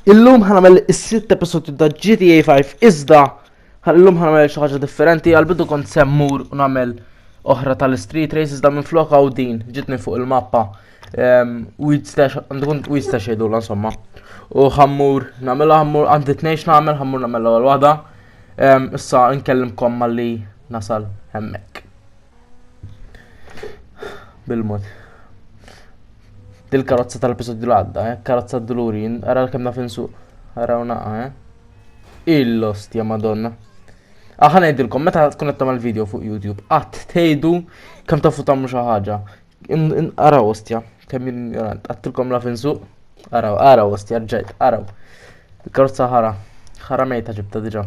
Illum ħanamel is-sitt episodju ta' GTA 5 iżda illum ħanamel xi ħaġa differenti għal bidu kont semmur u nagħmel oħra tal-street race iżda minn flok hawn din ġitni fuq il-mappa. Ehm, weed stash, għandu kont weed stash jgħidu insomma. U ħammur nagħmel ħammur għandi tnejx nagħmel ħammur nagħmel l-ewwel waħda. Ehm, issa nkellimkom malli nasal hemmhekk. Bil-mod. Dil-karozza tal-episodju l-għadda, eh? Karozza d-dulurin, ara l-kem naf insuq. Ara unaqa, eh? Il-lost, ja madonna. Aħna ngħidilkom, meta tkun qed tagħmel video fuq YouTube, qatt tgħidu kemm tafu tagħmlu xi ħaġa. Ara ostja, kemm ignorant, għattilkom la finsu. Ara, ara ostja, ġejt, ara. Karozza ħara, ħara mejta ġibta diġà.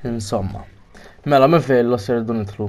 Insomma. Mela, minn fejn l-osser dun itlu?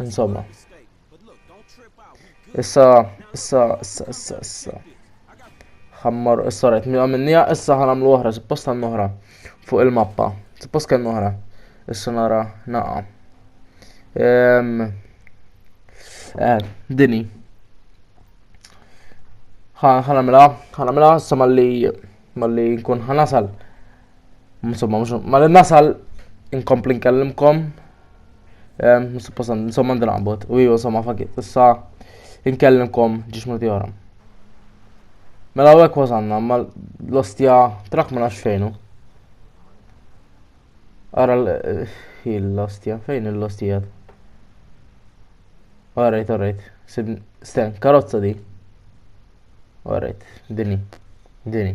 Insomma. Issa, issa, issa, issa, issa. Ħammar, issa rajt, mi għamilnija, issa ħanamlu oħra, suppost għan oħra. Fuq il-mappa. Suppost kien oħra. Issa nara, naqa. Ehm, eh, dini. ħanamela, ħanamela, issa malli, malli nkun ħanasal. Insomma, mhux ma li nasal inkompli nkellimkom. Suppost insomma ndrabot u ju insomma fakit. Issa inkellimkom ġiex minuti oħra. Mela u hekk wasanna, ma l-ostja trak ma nafx fejnu. Ara l-ostja, fejn l-ostija? Alright, alright. Sten, karozza di. Alright, dini, dini.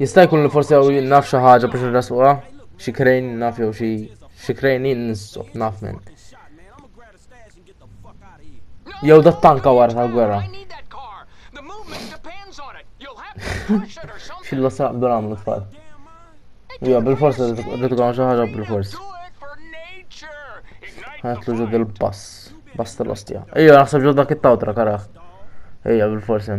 Jista' jkun li forsi għaw naf xi ħaġa biex nrasquha, xi krejn naf jew xi xi krejn jinsob naf minn. Jew dat tanka wara tal-gwerra. Xillu saq bdur għamlu tfal. Jew bil-forsa rridu għamlu xi ħaġa bil-forsa. Għatlu ġod il-bass, bass tal-ostja. Ejja, naħseb ġod dak it-tawtra karaħ. Ejja, bil-forsa.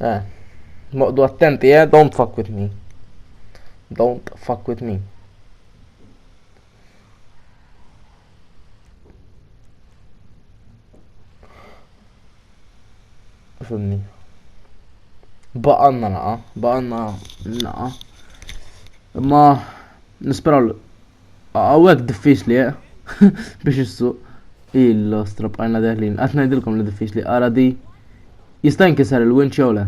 Eh, moqdu attenti, eh, don't fuck with me. Don't fuck with me. Fimni. Baqanna naqa, baqanna naqa. Ma nisperaw Għawek diffiċli, eh? Biex issu illo strop għajna deħlin. Għat najdilkom li diffiċli, għara di. Jista' jinkisar il-winċ jew le?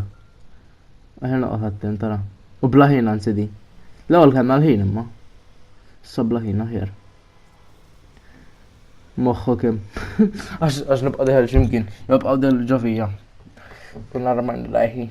Aħna noqgħod attent tara. U blaħin anzi di. L-ewwel kellna l-ħin imma. Issa blaħin aħjar. Moħħu kim. Għax nibqa' deħel x'imkien, nibqa' del ġovija. Kunna rman lajħi.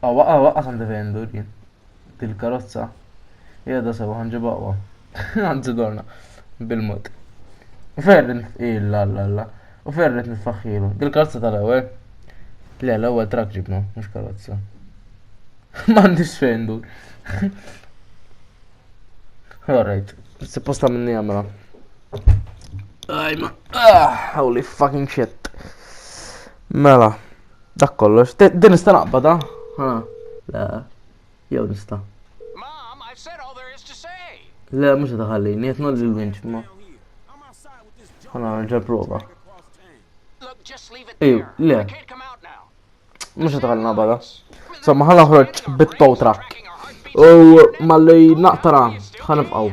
Awa, awa, qas għandi fejn dur jien. Dil-karozza hija da sewa ħanġibha aqwa. Anzi dorna bil-mod. U ferret illa alla alla. U ferret nitfaħħilu. Dil-karozza tal-ewwel. Le, l-ewwel trak ġibna, mhux karozza. M'għandix fejn dur. Alright, supposta minni għamra. Ajma, ah, holy fucking shit. Mela. Dak kollox, din nista' naqbada? Ha, le, jew nista'. Le, mhux qed iħallini, qed nolli l-winċ ma. Ħana nerġa' prova. Ejju, le. Mhux qed iħallina bada. Somma ħana ħroġ bit-tow trak. U malli naqtara ħanibqgħu.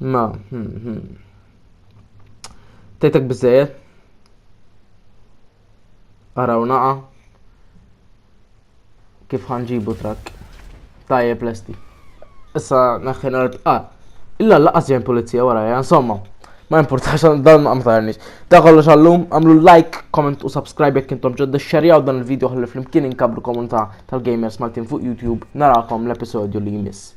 Ma, hmm, hmm. Tejtek bizzejet? Araw naqa. Kif ħanġibu trak? Tajje plesti. Issa naħħin għart. Ah, illa laqas jen polizija wara, ja, insomma. Ma importax dan ma mtajrnix. Da kollox għallum, għamlu like, comment u subscribe jek intom ġodda xerjaw dan il-video għalli flimkien inkabru komunità tal-gamers Maltin fuq YouTube. Narakom l-episodju li jmiss.